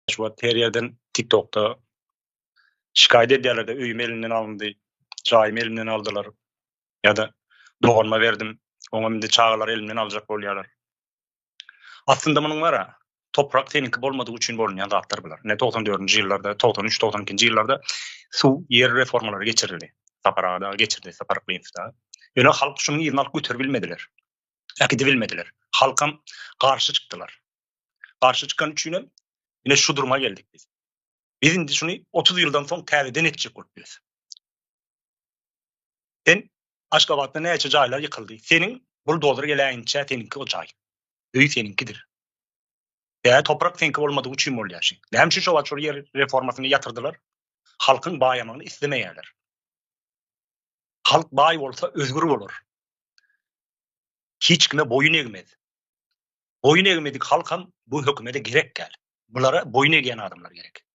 Şu wagt her ýerden TikTokda şikaýat edýärler-de, öýüm elimden alyndy, jaýymy elimden aldylar ýa-da doganyma berdim, oňam indi çagalary elimden aljak bolýarlar. Aslynda munuň bar-a, toprak seniňki bolmadygy üçin bolunýan zatlar bular. Ine togsan dördünji ýyllarda, togsan üç, togsan ikinji ýyllarda suw, ýer reformalary geçirildi. Sapar aga dagy geçirdi, Sapar Yklymow dagy. Ýöne halk şunuň yzyny alyp göteribilmediler. Äkidibilmediler. Halkam garşy çykdylar. Garşy çykany üçinem ine şu duruma geldik biz. Biz indi şuny 30 ýyldan soň täzeden etjek bolup bilýäs. Sen Aşgabatda näçe jaýlar ýykyldy. Seniň buldozer geläýinçä seniňki o jaý. Öý seniňkidir. Ýa toprak seňki bolmadygy üçin bolýar şu. Näme üçin şo wagt şol ýer reformasyny ýatyrdylar? Halkyň baýamagyny islemeýärler. Halk baý bolsa özgür bolar. Hiç kime boýun egmez. Boýun egmedik halkam bu hökümede gerek däl. Bulara boýun egýän adamlar gerek.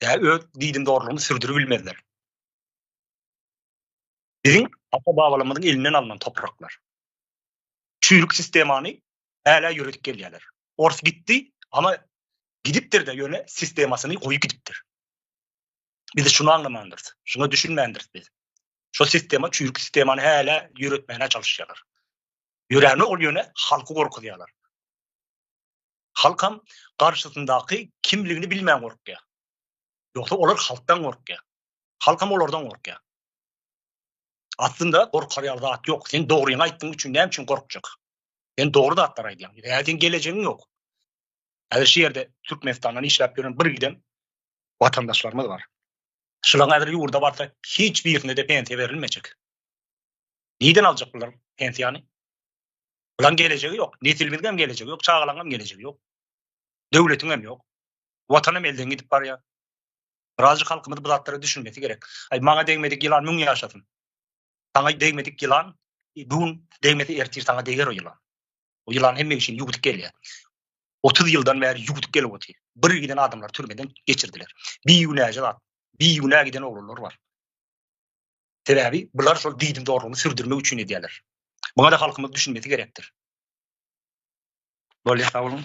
Ýa öz diýdim dogrulygyny sürdürip bilmezler. Biziň ata-babalarymyzyň elinden alnan topraklar. Çüýrük sistemany hälä ýöredip gelýärler. Ors gitdi, ama gidipdir-de ýöne sistemasyny goýup gidipdir. Biz şuny aňlamandyrys, şuňa düşünmändiris biz. Şo sistema çüýrük sistemany hälä ýöretmäne çalyşýarlar. Ýöräni ogul ýöne halky gorkuzýalar. Halkam garşysyndaky kimligini bilmän gorkýa. Ýogsa olar halkdan gorkýa. Halkam olardan gorkýa. Aslynda gorkar ýaly zat ýok. Sen dogryňy aýtdyň üçin näme üçin gorkjak? Sen dogry zatlar aýdýaň. Ýa sen gelejegiň ýok. Häzir şu ýerde Türkmenistandan işläp ýören bir giden watandaşlarymyz bar. Şulaň häzir ýurda barsa hiç birine-de pensiýa berilmejek. Nirden aljak bular pensiýany? Bularyň gelejegi ýok. Nesilimiziň gelejegi ýok, çagalaryň gelejegi ýok. Döwletiň hem ýok. Watanym elden gidip barýar. Birazjyk halkymyz bu zatlara düşünmesi gerek. Aý maňa degmedik ýylan müň ýaşasyn. Saňa degmedik ýylan bu gün degmese ertir saňa deger o ýylan. O ýylan hemme işini ýuwudyp gelýär. 30 ýyldan bäri ýuwudyp gelip otyr. Bir giden adamlar türmeden geçirdiler. Bir günäje zat. Bir günä giden oglanlar bar. Sebäbi bular şol diýdim zorlugyny sürdürmek üçin edýärler. Muňa-da halkymyz düşünmesi gerekdir. Bolýar, sag boluň.